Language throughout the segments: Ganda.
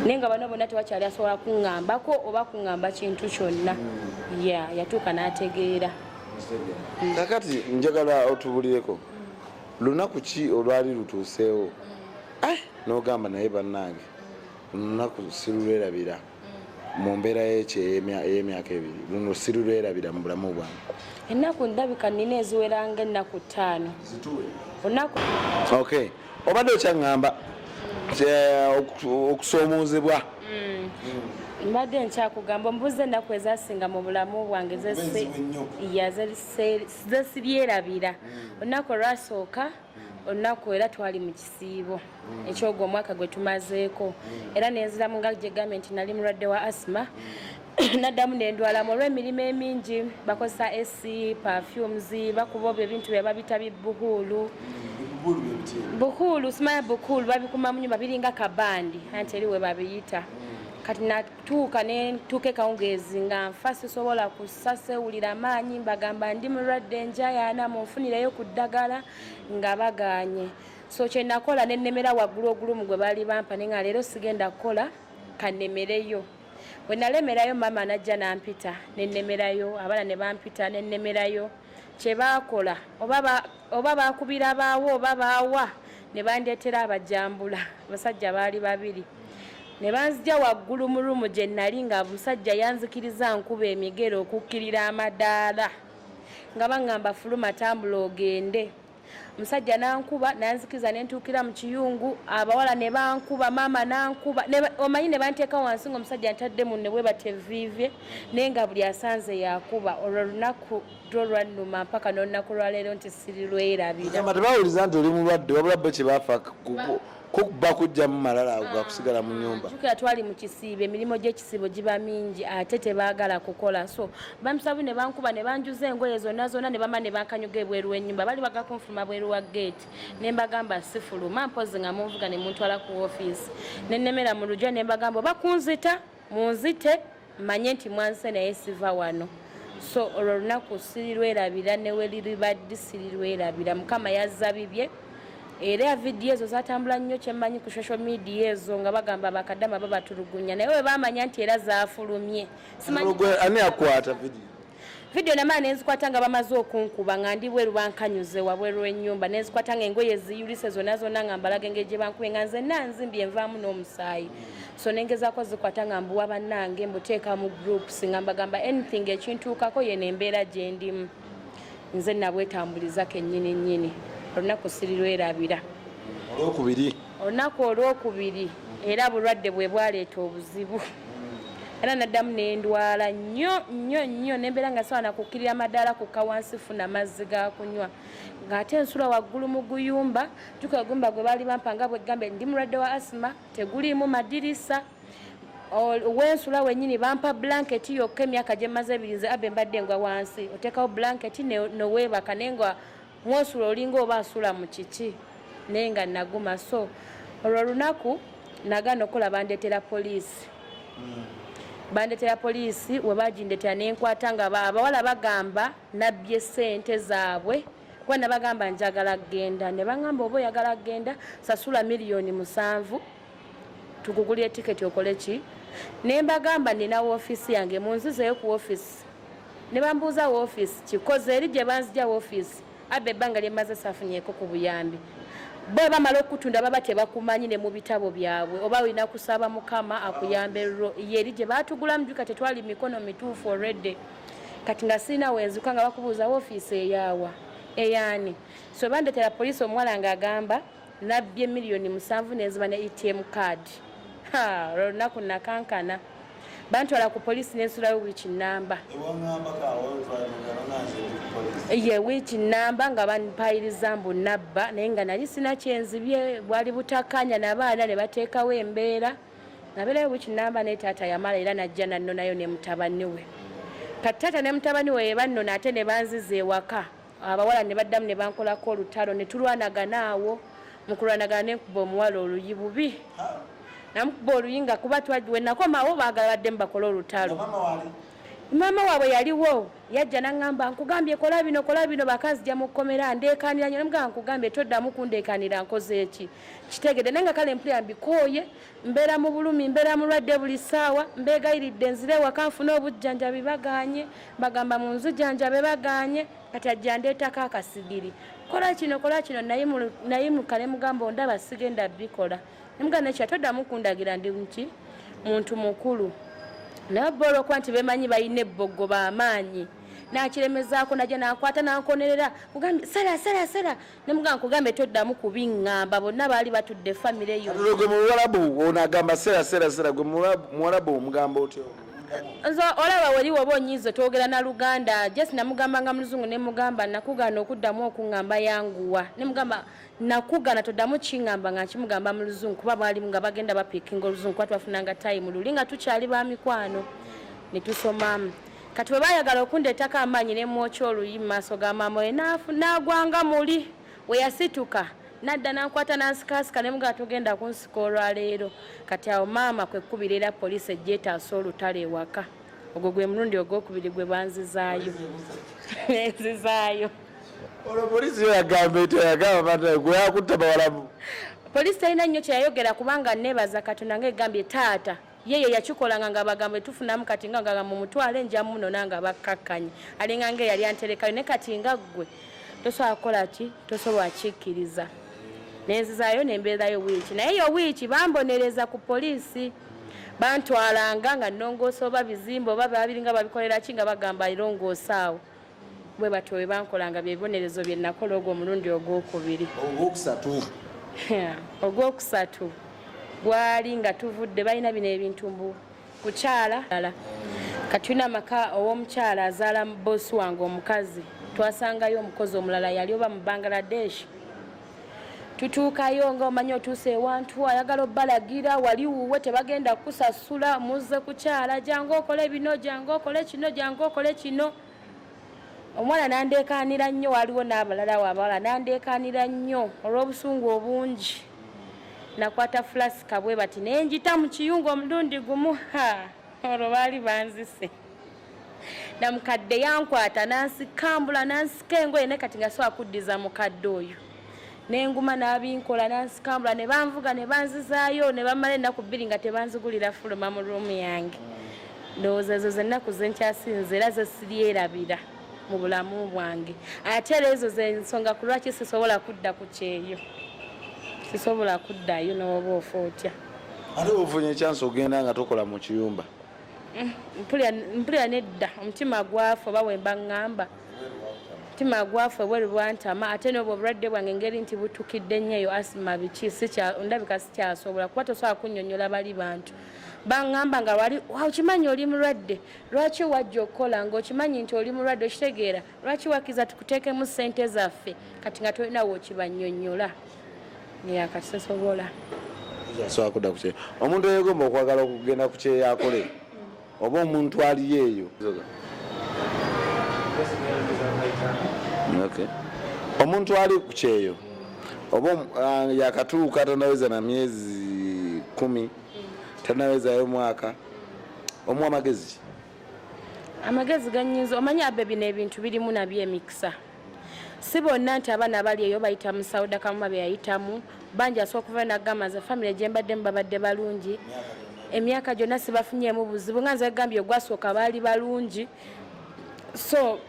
naye nga bano bonna tewakyali asobola kuŋambako oba kuŋamba kintu kyonna ya yatuuka n'ategeera kakati njagala otubulireko lunaku ki olwali lutuuseewo eh, nogamba naye bannange lunaku sirulwerabira mu mbeera yekyo ey'emyaka ebiri luno sirulwerabira mu bulamu bwange ennaku ndabika nina eziweranga ennaku ttaano ok obadde okyaŋŋamba okusoomoozebwa mm. mbadde nkyakugamba omubuuza ennaku ezasinga mu bulamu bwange zesibyerabira mm. olunaku olwasooka mm. olunaku era twali mu kisiibo ekyogwo omwaka gwe tumazeeko era nenziramu nga gyegambye nti nali mulwadde wa asima naddamu nendwalamu olw'emirimu emingi bakozesa ac perfumes bakuba obyo ebintu bye babita bibuhuulu buhuulu simanya bukuulu babikuma mu nyumba biringa kabandi anti eri we babiyita kati natuuka nentuuka ekawungeezi nga nfa sisobola kussa sewulira maanyi mbagamba ndi mulwadde njayaana munfunireyo ku ddagala nga baganye so kyenakola nenemera waggulu ogulumu gwe baali bampa ne nga leero sigenda kukola kanemereyo bwe nalemerayo maama najja nampita nennemerayo abaana ne bampita nennemerayo kye baakola oba baakubira baawo oba baawa ne bandeetera abajambula abasajja baali babiri ne banzija waggulu mu ruumu gye nnali nga musajja yanzikiriza nkuba emigere okukkirira amadaala nga baŋŋamba fuluma tambula ogende omusajja nankuba nanzikiza nentuukira mu kiyungu abawala ne bankuba maama nankuba omanyi ne banteeka wansi nga omusajja ntadde munne bwe bateviivye naye nga buli asanze yakuba olwo lunaku lwo lwannuma mpaka n'olunaku lwaleero nti sirirwerabira tebawuliza nti oli mulwadde wabula bo kye bafa kukuba kujjamu malala ago gakusigala mu nyumba jukira twali mu kisiibo emirimu gy'ekisiibo giba mingi ate tebaagala kukola so bamusabi ne bankuba ne banjuza engoye zonna zonna ne bama ne bankanyuga ebweru w'ennyumba bali bagakunfuluma bweru wa geeti ne mbagamba sifuluma mpozi nga munvuga ne muntwala ku ofiisi ne nnemera mu lugya ne mbagamba oba kunzita Munzite manye nti mwanse naye siva wano so olwo olunaku sirirwerabira neweliribaddi sirirwerabira mukama yazza bibye era ya vidiyo ezo zatambula nnyo kyemmanyi ku social media ezo nga bagamba bakadama babatulugunya naye webamanya nti era zafulumye ani akwata vidiyo vidiyo namala nenzikwata nga bamaze okunkuba nga ndi bweru bankanyuze wabweru wenyumba nenzikwata nga engoye ziyulise zonna zonna nga mbalaga engeri gye bankube nga nzenna nzimbi envaamu n'omusaayi so nengezako zikwata nga mbuwa bannange mbuteeka mu groups nga mbagamba anything ekintuukako yeno embeera gye ndimu nze nabwetambuliza kennyini nnyini olunaku sirirwerabira olwokubiri olunaku olwokubiri era bulwadde bwe bwaleeta obuzibu era naddamu nendwala nnyo nnyo nnyo nembeera nga sobola nakukkirira madaala kukka wansi funa mazzi gakunywa ng'ate ensula waggulu mu guyumba juka egumba gwe baali bampa nga bweggambe ndi mulwadde wa asima teguliimu madirisa wensula wenyini bampa blanketi yokka emyaka gyemmaze ebiri nze abe mbadde ngwa wansi oteekawo blanketi nowebaka naye nga Mwosula olinga oba asula mu kiki naye nga naguma so olwo olunaku nagana okola bandetera poliisi hmm. bandetera poliisi webagindetera nenkwata nga abawala bagamba nabbye sente zaabwe kuba nabagamba njagala kugenda nebagamba oba oyagala kugenda sasula miliyoni musanvu tukugulire tiketi okole ki ne mbagamba nina woofiisi yange munzizeyo ku woofiisi ne bambuuza woofiisi kikoze eri gye banzija woofiisi abba ebbanga lye mmaze saafunyeeko ku buyambi bo bamala okutunda baba tebakumanyi ne mu bitabo byabwe oba olina kusaba mukama akuyambe ye eri gye baatugulamu juka tetwali mikono mituufu olredde kati nga sirina wenzuka nga bakubuuza woofiisi eyaawa eyaani so bandetera poliisi omuwala ng'agamba Nabbye miliyoni musanvu nenziba ne ATM card. Ha, olunaku nakankana. Bantwala ku poliisi nensulayo wiiki nnamba. Ye wiiki nnamba nga banpayiriza mbu nabba naye nga nali sina kyenzibye bwali butakanya nabaana ne bateekawo embeera nabeerayo wiiki nnamba naye taata yamala era najja nannonayo ne mutabani we. Kati taata ne mutabani we yebannona ate ne banziza ewaka. abawala ne baddamu ne bankolako olutalo ne tulwanagana awo mu kulwanagana ne nkuba omuwala oluyi bubi namukuba oluyi nga kuba twagiwe nakomawo baagala baddemu bakole olutalo maama waabwe yaliwo yajja naŋŋamba nkugambye kola bino kola bino bakazija mu kkomera ndeekaanira nyo namugamba nkugambye toddamu kundeekaanira nkoze eki kitegede naye nga kale mpulira mbikooye mbeera mu bulumi mbeera mulwadde buli ssaawa mbeegayiridde nzire ewaka nfune obujjanjabi bagaanye bagamba mu nzu janjabe bagaanye kati ajja ndeetako akasigiri kola kino kola kino nayimuka ne mugamba ondaba sigenda bikola nemugamba nekya toddamu kundagira ndi nki muntu mukulu naye bba olwokuba nti bemanyi balina ebboggo bamaanyi nakiremezaako naja nakwata nankonerera kugambye sala sala sala Nemuga nkugambe toddamu kubiŋŋamba bonna baali batudde famire yo. Katulo gwe muwalabu ono agamba sera sera sera gwe muwalabu omugamba otyo. Nze olaba wali waba onyiiza twogera na Luganda just namugamba nga muluzungu ne mugamba nakugaana okuddamu okuŋŋamba yanguwa ne mugamba nakugaana toddamu kiŋŋamba nga nkimugamba mu luzungu kuba baali nga bagenda bapiikinga oluzungu kuba twafunanga time luli nga tukyali ba mikwano ne tusomamu. Kati bwe baayagala okundeetako amaanyi ne mmwokya oluyi mu maaso ga maama we n'agwa nga muli we yasituka nadda nankwata nansikaasika ne mugaa togenda kunsika olwaleero kati awo maama kwe kkubira era poliisi ejja etaasa olutalo ewaka ogwo gwe mulundi ogwokubiri gwe banzizaayo nenzizaayo olwo poliisi yo yagamba etya yagamba bana gwe yakutta bawalamu poliisi talina nnyo kyeyayogera kubanga neebaza katonda nga egambye taata ye ye yakikolanga nga bagamba etufunamu kati nga ngagamba mumutwale nja munona nga bakkakkanye alinga nga eyali anterekayo ne kati nga ggwe tosobola kukola ki tosobola kikkiriza nenzizayo nembeerayo wiiki naye eyo wiiki bambonereza ku poliisi bantwalanga nga nongoosa oba bizimba oba babiringa babikolera ki nga bagamba irongoosaawo bwe batyo bwe bankola nga bye bibonerezo bye nakola ogwo omulundi ogwokubiri ogwokusatu ogwokusatu gwali nga tuvudde balina bino ebintu mbu kukyala ala katulina amaka ow'omukyala azaala boosi wange omukazi twasangayo omukozi omulala yali oba mu bangladesh tutuukayo nga omanyi otuuse ewantu ayagala obbalagira wali wuwe tebagenda kukusasula muzze kukyala jangu okole bino jangu okole kino jangu okole kino omwana nandeekaanira nnyo waliwo n'abalala wabawala nandeekaanira nnyo olw'obusungu obungi nakwata fulasika bwe bati naye njita mu kiyungu omulundi gumu ha olwo baali banzise namukadde yankwata nansikambula nansika engoye naye kati nga siwa kuddiza mukadde oyo nenguma nabinkola nansikambula ne banvuga ne banzizaayo ne bamala ennaku bbiri nga tebanzigulira fuluma mu ruumu yange ndowooza ezo zennaku zenkyasinza era zesiryerabira mu bulamu bwange ate era ezo zensonga ku lwaki sisobola kudda ku kyeyo sisobola kuddayo nowoba ofa otya ate ofunye ekyansi ogenda nga tokola mu kiyumba Mm, mpulira nedda omutima gwafe oba wemba ŋŋamba omutima gwafe bweri bwantama ate noba obulwadde bwange engeri nti butukidde nnyo eyo asima biki ndabika sikyasobola kuba tosobola kunyonyola bali bantu baŋŋamba nga wali okimanyi oli mulwadde lwaki wajja okukola nga okimanyi nti oli mulwadde okitegeera lwaki wakiza tukuteekemu ssente zaffe kati nga tolina wokibanyonyola neyakasisobola sobola omuntu eyegomba okwagala okugenda ku kyeyakole oba omuntu aliyo eyo omuntu ali ku kyeyo oba ah, yakatuuka tanaweza na myezi kumi tanawezayo mwaka omu amagezi amagezi ganyinza omanyi abe bino ebintu birimu nabyo emikisa si bonna nti abaana abali eyo bayita mu sauda kamuma beyayitamu bangi asobola okuvayo nagamba nze famiry gyembaddemu babadde balungi emyaka gyonna sibafunyemu buzibu nga nze gambye ogwasooka baali balungi so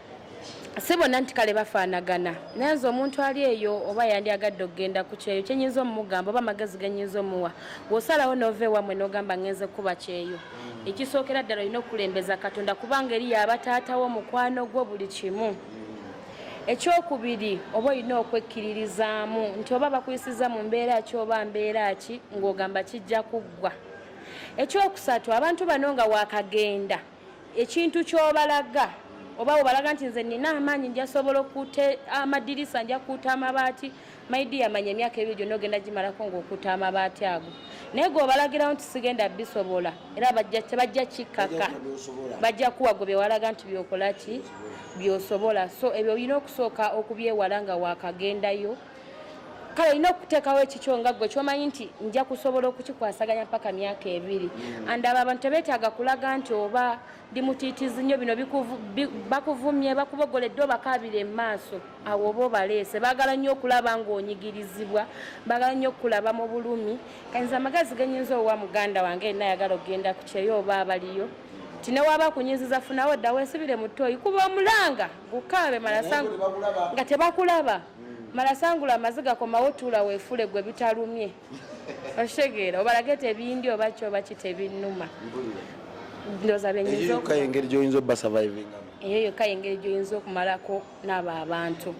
si bonna nti kale bafaanagana naye nze omuntu ali eyo oba yandi agadde okugenda ku kyeyo kyenyinza omumugamba oba amagezi genyinza omuwa wosalawo nova ewamwe nogamba ngenze kukuba kyeyo ekisookera ddala olina okukulembeza katonda kubanga eri yaba taata wo mukwano gwo buli kimu ekyokubiri oba olina okwekkiririzaamu nti oba bakuyisiza mu mbeera ki oba mbeera ki ng'ogamba kijja kuggwa ekyokusatu abantu bano nga wakagenda ekintu kyobalaga oba webalaga nti nze nina amaanyi njasobola okuta amadirisa njakuuta amabaati My dear manya emyaka ebiri gyonna ogenda gimalako ng'okuta amabaati ago naye gweobalagirawo nti sigenda bisobola era tebajja kikkaka bajja kuwa gwe byewalaga nti byokola ki byosobola so ebyo olina okusooka okubyewala nga wakagendayo kale olina okuteekawo ekikyo nga gwe kyomanyi nti nja kusobola okukikwasaganya mpaka myaka ebiri mm. and abo abantu tebeetaaga kulaga nti oba ndi mutiitizi nnyo bino bakuvumye bakubogoledde obakaabira emaaso awo oba obaleese baagala nnyo okulaba ng'onyigirizibwa baagala nnyo okukulaba mu bulumi kanyiza amagezi genyinza owa muganda wange ena ayagala okugenda ku kyeyo oba abaliyo nti newaba kunyiziza funawo dda wesibire mu ttooyi kuba omulanga gukaabe malasangu nga tebakulaba hmm. malasangula amaziga komawo tuula weefule gwe bitalumye okitegeera obalage tebindi oba kyoba kitebinuma ndoza benyizka yengeri gyoyinza oba surviving eyo yokka yengeri gyoyinza okumalako naabo abantu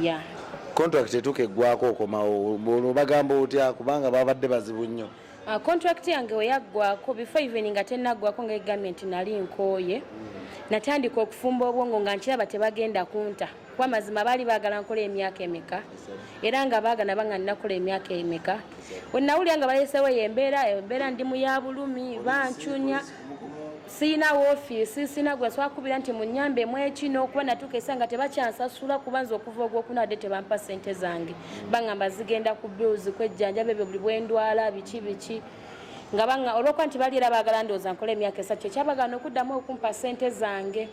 ya contract etuuka eggwako okomawo obagamba otya kubanga babadde bazibu nnyo ah, contract yange weyaggwako before even nga tenaggwako nga egambye nti nali nkooye natandika okufumba obwongo nga nkiraba tebagenda kunta kuba mazima baali baagala nkola emyaka emeka era nga baagana banga ninakola emyaka emeka wenawulira nga balesewo eyo embeera embeera ndi mu ya bulumi bancunya siyina woofiisi siyina gwe swakubira nti munyambe mwekino okuba natuuka esa nga tebakyansasula kuba nze okuva ogwokuna adde tebampa sente zange bangamba zigenda ku bills kwejjanjaba ebyo buli bwendwala biki biki nga banga olwokuba nti bali era baagala ndowooza nkola emyaka esatu kyekyabagana okuddamu okumpa sente zange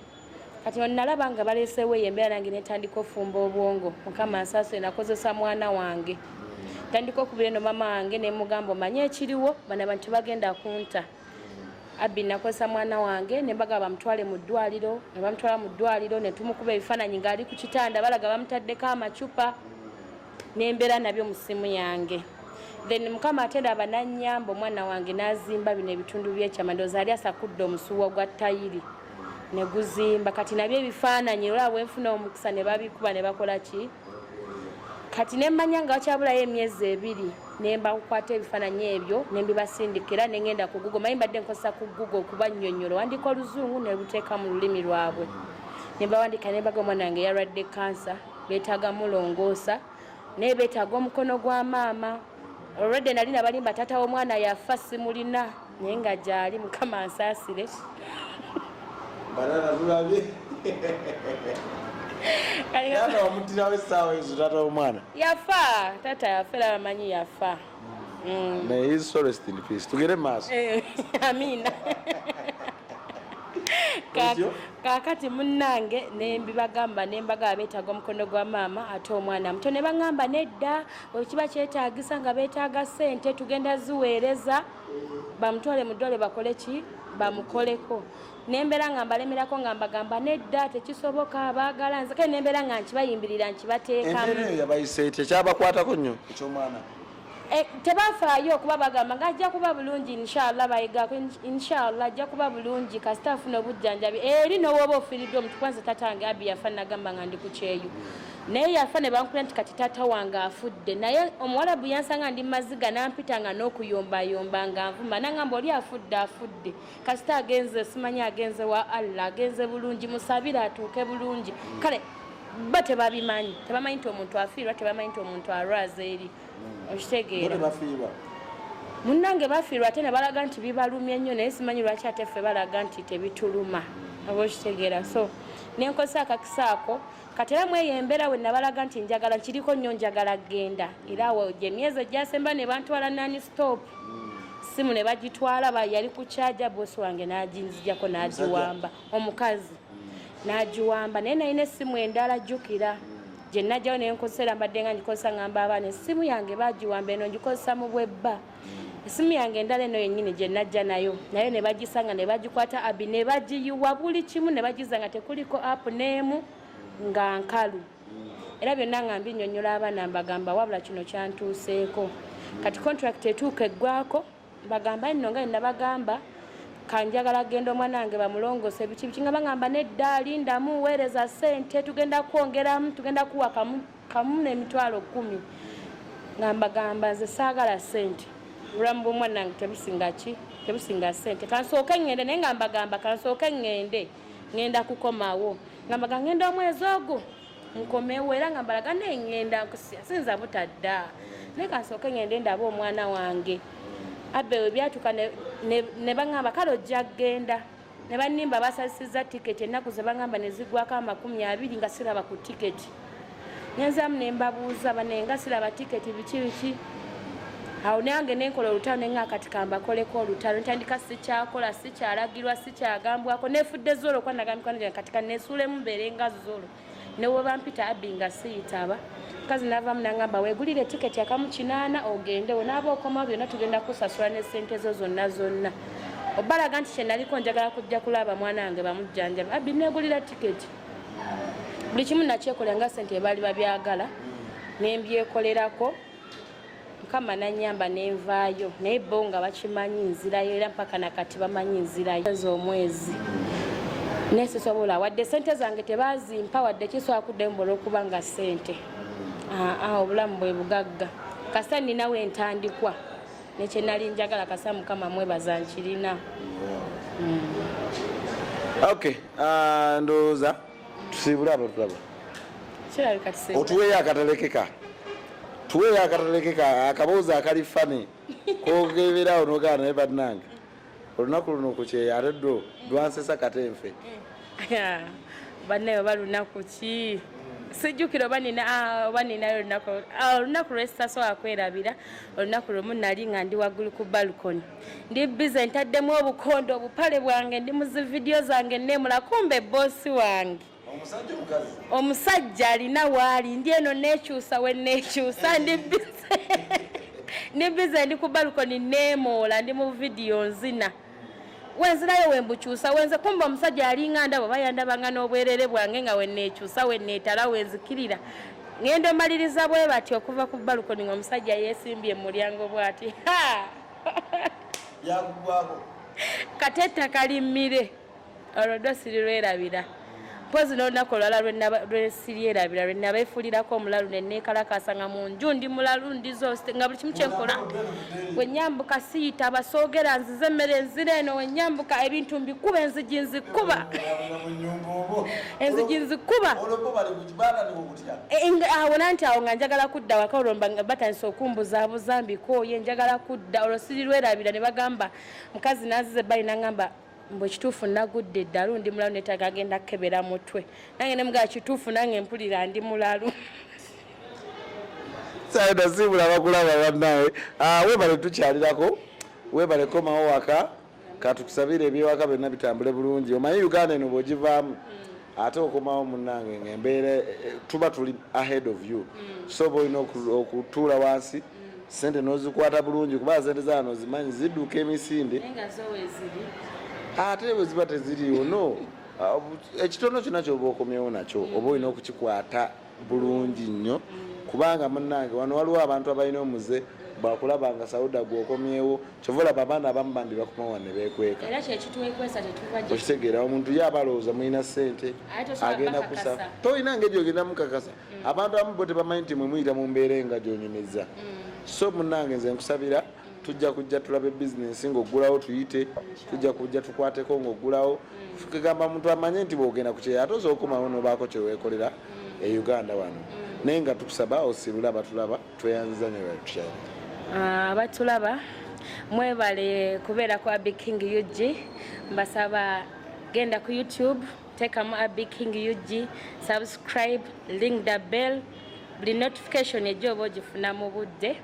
kati onalaba nga baleeseewo eyo embeera nange netandika ofumba obwongo mukama nsasule nakozesa mwana wange tandika okubira eno mama wange nemugamba omanye ekiriwo bana bantu bagenda kunta abbi nakozesa mwana wange nembaga bamutwale mu ddwaliro ne bamutwala mu ddwaliro ne tumukuba ebifaananyi ng'ali ku kitanda balaga bamutaddeko amacupa nembeera nabyo mu ssimu yange then mukama ate ndaba nanyamba omwana wange n'azimba bino ebitundu by'ekyama ndooza ali asakudde omusuwa gwa tayiri ne guzimba kati nabyo ebifaananyi olaba bwenfuna omukisa ne babikuba ne bakola ki kati ne mmanya nga wakyabulayo emyezi ebiri ne mbakukwata ebifaananyi ebyo ne mbibasindika era ne ngenda ku gugo maye mbadde nkozesa ku gugo okubannyonnyola wandiika oluzungu ne luteeka mu lulimi lwabwe ne bawandiika ne mbaga omwana wange yalwadde kansa beetaaga mulongoosa naye beetaaga omukono gwa maama Already nali nabalimba tata w'omwana yafa simulina naye nga gyali mukama ansaasire banana tulabye taata wamutirawo essaawa ezo taata w'omwana yafa taata yafa era bamanyi yafa mm. naye his sorest in peace tugere maaso eh, amina kakati munange nembibagamba nembaga abetaga omukono gwa maama ate omwana muto nebaŋamba nedda wekiba kyetagisa nga betaaga sente tugenda ziweereza bamutwale mudole bakole ki bamukoleko nembeera nga mbalemerako nga mbagamba nedda tekisoboka baagala nze kale nembeera nga nkibayimbirira nkibateekamuekyabakwatako nnyo ekyomwana eh, tebafaayo okuba bagamba nga ajja kuba bulungi inshallah bayigako inshallah ajja kuba bulungi kasita afuna obujjanjabi eri nowooba ofiriddwa omutukwanze tatange abi yafa nagamba nga ndi ku kyeyo naye yafa ne bankula nti kati taata wange afudde naye omuwalabu yansanga ndi maziga nampita nga n'okuyombayomba nga nvuma nangamba oli afudde afudde kasita agenze simanyi agenze wa allah agenze bulungi musabire atuuke bulungi kale bo tebabimanyi tebamanyi nti omuntu afiirwa tebamanyi nti omuntu alwaza eri hmm. okitegeera munnange bafiirwa ate ne balaga nti bibalumye nnyo naye simanyi lwaki ate ffe balaga nti tebituluma oba okitegeera so nenkozesa akakisa ako kati era mweyo embeera we nabalaga nti njagala nkiriko nnyo njagala genda era awo gye myezi egyasemba ne bantwala nani stop simu ne bagitwala yali ku kyaja bosi wange n'aginzijako n'agiwamba omukazi n'agiwamba naye nalina essimu endala jjukira gye najjawo ne nkozesa era mbadde nga ngikozesa ngamba abaana essimu yange bagiwamba eno ngikozesa mu bwebba esimu yange endala eno yennyini gye najja nayo naye ne bagisanga ne bagikwata abi ne bagiyiwa buli kimu ne bagiza nga tekuliko apu n'emu nga nkalu era byonna nga mbinyonyola abaana mbagamba wabula kino kyantuuseeko kati contract etuuka eggwako mbagamba nno nga nnabagamba kanjagala genda omwana wange bamulongose biki biki nga bagamba nedda lindamu weereza ssente tugenda kwongeramu tugenda kuwakamu kamu nemitwalo kumi nga mbagamba nze saagala sente obulamu bwomwanange tebusinga ki tebusinga sente kansooke ngende naye nga mbagamba kansooke ngende ngenda kukomawo nga mbaga ngenda omwezi ogwo nkomewo era nga mbalaga naye ngenda nkusia sinza butadda naye kansooke ngende ndaba omwana wange abewe byatuka ne baŋamba kale ojja kgenda ne bannimba basazisizza tiketi ennaku ze bangamba ne ziggwako amakumi abiri nga siraba ku tiketi nenzaamu ne mbabuuza bane nga siraba tiketi biki biki awo nange nenkola olutalo nenga kati kambakoleko olutalo ntandika sikyakola sikyalagirwa sikyagambwako nefudde zolo kwanagambikana kati kanesuulemu mbeere nga zolo newebampita abbi nga siyitaba mukazi navamu nangamba wegulire tiketi akamu kinaana ogendewo naaba okomawo byonna tugenda kusasula ne sente zo zonna zonna obalaga nti kyenaliko njagala kujja kulaba mwana wange bamujjanjaba abbi negulira tiketi buli kimu nakyekolera nga sente ebaali babyagala nembyekolerako mukama nanyamba nenvaayo naye bo nga bakimanyi nzirayo era mpaka nakati bamanyi nzirayo eza omwezi naye sisobola wadde sente zange tebazimpa wadde kisobola kuddayo mbola okuba nga sente aa obulamu bwe bugagga kasa ninawo entandikwa nekyenali njagala kasa mukama mwebaza nkirina mm. okay uh, ndowooza tusiibule abatulaba otuweeyo akatalekeka tuweeyo akatalekeka akaboozi akali fani kogeberaawo nogaa naye bannange olunaku luno kukyeyo ate dwo lwansesa kate nfe eh, bannaye oba lunaku ki sijjukira oba nina ah, oba ninayo olunaku ah, olunaku lwesitasobola kwerabira olunaku lwemu nali nga ndi waggulu ku balcony ndi bize ntaddemu obukondo obupale bwange ndi mu zividiyo zange neemula kumba ebboosi wange omusajja alina waali ndi eno neekyusa we neekyusa ndi bize ndi bize ndi ku balukoni neemoola ndi mu vidiyo nzina wenzirayo wembukyusa wenze kumba omusajja alinga ndabo bayandabanga n'obwerere bwange nga weneekyusa weneetala wenzikirira ngenda omaliriza bwe bati okuva ku balukoni ngaomusajja yeesimbye mu mulyango bwati byakugwako kati ettaka limmire olwo ddo sirirwerabira mpozi n'olunaku olwala lwesiryerabira lwe nabeefulirako omulalu ne neekalakaasa nga mu nju ndi mulalu ndizo nga buli kimu kyenkola wenyambuka siyita basoogera nzize emmere enzira eno wenyambuka ebintu mbikuba enzigi nzikuba enzigi nzikuba awo nanti awo nga njagala kudda waka olwo batandise okumbuzaabuza mbikooye njagala kudda olwo sirirwerabira ne bagamba mukazi nazize bali nangamba mbu ekituufu nagudde eddalu ndi mulalu netaga agenda kukebera mutwe nange nemugaa kituufu nange mpulira ndi mulalu sayina siibula bakulaba bannawe ah, webale tukyalirako webale komawo waka Katukusabire ebyewaka byonna bitambule bulungi. Omanyi Uganda eno bwogivaamu ate okomawo munange nga embeera eh, eh, tuba tuli ahead of you mm. so oba olina okutuula wansi mm. sente nozikwata bulungi kuba sente zano zimanyi ziduka emisinde ate bweziba teziriwo no ah, ekitono kyona kyoba okomyewo nakyo mm. oba olina okukikwata bulungi nnyo kubanga munange wano waliwo abantu abalina omuze bwakulaba nga sauda gwokomyewo kyova olaba abaana abamu bambi bakomawa nebekweka okitegeera omuntu ye aba alowooza mulina sente agenda kusa tolina ngeri ogenda mukakasa mm. abantu abamu bo tebamanyi nti mwe muyita mu mbeera enga gyonyumizza mm. so munange nze nkusabira tujja kujja tulabe bizinensi ng'oggulawo tuyite tujja kujja tukwateko ng'oggulawo kigamba muntu amanye nti bwogenda ku kyeyo ate osobola okukomawo nobaako kyeweekolera e uganda wano naye nga tukusaba osibule abatulaba tweyanziza nyo batukyali ah, abatulaba mwebale kubeera ku abi king ug mbasaba genda ku youtube teekamu abi king ug subscribe ling the bell buli notification ejja oba ogifuna mu budde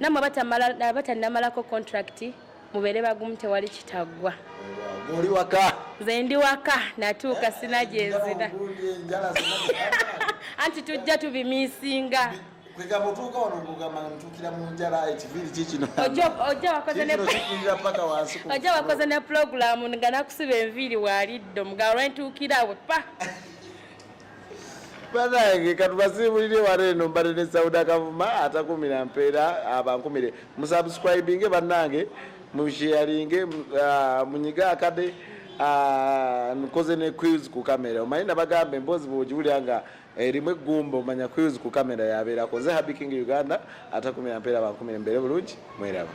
namwe abatanamalako contract mubeere bagumu tewali kitaggwa oli waka nze ndi waka natuuka sina gyenzira anti tujja tubimisinga kwegamba otuuka wano ngogamba ntuukira mu njala ekiviiri kikino ojja wakoze ne pulogulaamu nga nakusiba enviiri waaliddo mugabo lwentuukira we pa banange katubasiibulire wano eno mbadde ne sauda kavuma atakumira mpeera abankumire musubscribinge banange musheyaringe uh, munyiga akade uh, nkoze ne quiz ku kamera omanyi nabagambe emboozi bwogiwulira nga erimu eh, eggumba omanya quiz ku kamera yabeerako nze habiking uganda atakumira mpeera abankumire mbeere bulungi mweraba